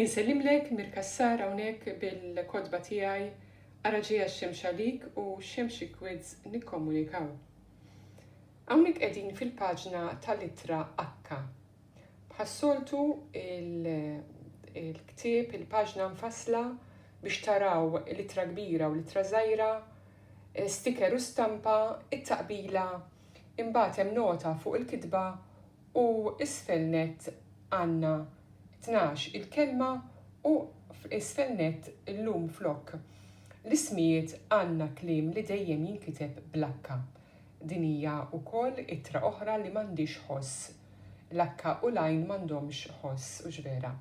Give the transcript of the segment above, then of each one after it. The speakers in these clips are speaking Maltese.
Insellimlek Mir Cassar hawnhekk bil-kotba tiegħi Ara ġejja x-xemx għalik u xemxik Widz nikkommunikaw. Hawnhekk qegħdin fil-paġna tal-ittra H. Bħas-soltu il-ktieb, il-paġna mfassla biex taraw l-ittra kbira u l-ittra żgħira, sticker u stampa, it-taqbila Imbagħad hemm nota fuq il-kitba u isfel nett għandna tnax il-kelma u isfel nett illum flok l-ismijiet għandna kliem li dejjem jinkiteb bl-H. Din hija wkoll ittra oħra li m'għandhiex ħoss. L-H u l-Għajn m'għandhomx ħoss, hux vera?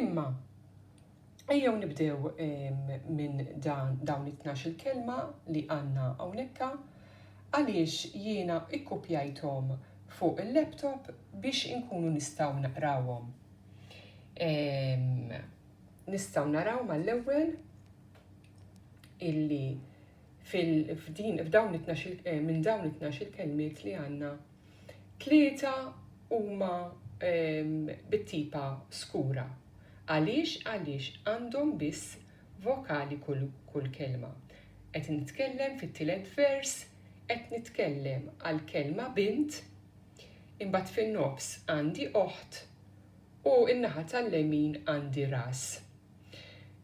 Imma Ejjew nibdew minn dawn it-tnax-il kelma li għandna hawnhekka għaliex jiena ikkupjajthom fuq il-laptop biex inkunu nistgħu naqrawhom. Nistgħu naraw mal-ewwel illi f'dawn it-tnax-il minn dawn it-tnax-il kelmiet li għandna Tlieta huma bit-tipa skura. Għaliex? Għaliex għandhom biss vokali kull kelma. Qed nitkellem fit-tielet vers, qed nitkellem għall-kelma bint, imbagħad fin-nofs għandi oħt u n-naħa tal-lemin għandi ras.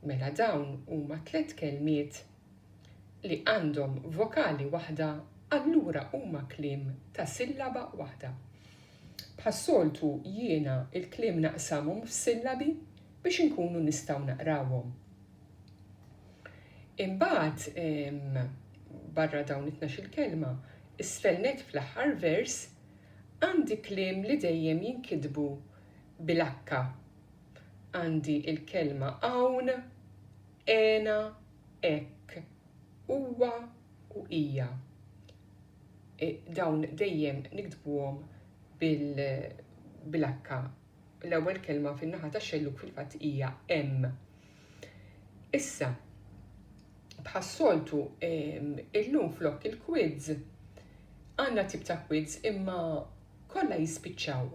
Mela dawn huma tliet kelmiet li għandhom vokali waħda allura huma kliem ta' sillaba waħda. Bħas-soltu jiena l-kliem naqsamhom f'sillabi biex inkunu nistgħu naqrawhom. Imbagħad barra dawn it-tnax-il kelma, isfel nett fl-aħħar vers għandi kliem li dejjem jinkitbu bil-akka. Għandi l-kelma hawn, Għena hekk, huwa u hija. Dawn dejjem niktbuhom bil-akka. L-ewwel kelma fin-naħa tax-xellug fil-fatt hija hemm. Issa, bħas-soltu illum flok il-quiz għandna tip ta' quiz imma kollha jispiċċaw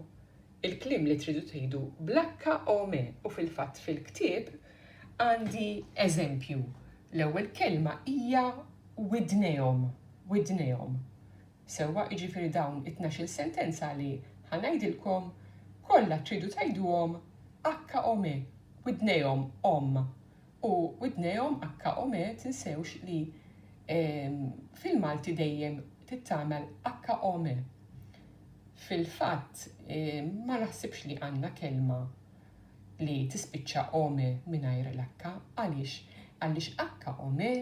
il-kliem li tridu tgħidu bl-akka o me u fil-fatt fil-ktieb għandi eżempju, l-ewwel kelma hija widnejhom, widnejhom. Sewwa, jiġifieri dawn it-tnax-il sentenza li ħa ngħidilkom kollha tridu tgħiduhom akka o me, widnejhom omm. U widnejhom HOM e tinsewx li fil-Malti dejjem tittagħmel HOM e. Fil-fatt ma naħsibx li għandna kelma li tispiċċa om e mingħajr l-H. Għaliex? Għaliex HOM e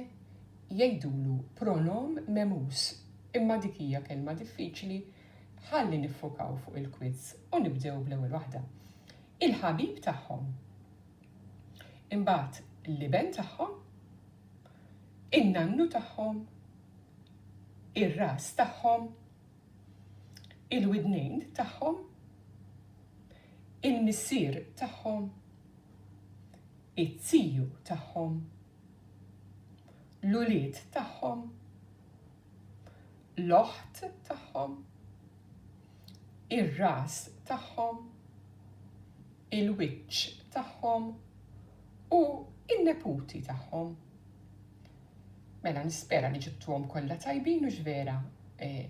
jgħidulu pronom memus. Imma dik hija kelma diffiċli ħalli niffokaw fuq il-quiz u nibdew bl-ewwel waħda. Il-ħabib tagħhom. Imbagħad l-iben tagħhom, in-nannu tagħhom, ir-ras tagħhom, il-widnejn tagħhom, il-missier tagħhom, it-tiju tagħhom, l-ulied tagħhom, l-oħt tagħhom, ir-ras tagħhom, il-wiċċ tagħhom u n-neputi tagħhom. Mela nispera li ġibtuhom kollha tajbin u x'vera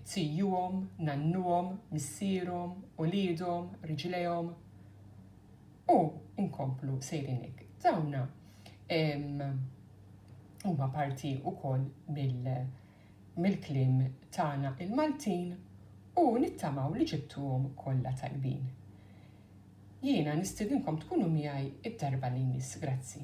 zijuhom, nannuhom, missierhom, uliedhom, riġlejhom u nkomplu sejrin hekk. Dawna huma parti wkoll mill-kliem tagħna il-Maltin u nittamaw li ġibtuhom kollha tajbin. Jiena nistiedinkom tkunu miegħi d-darba li jmiss. Grazzi.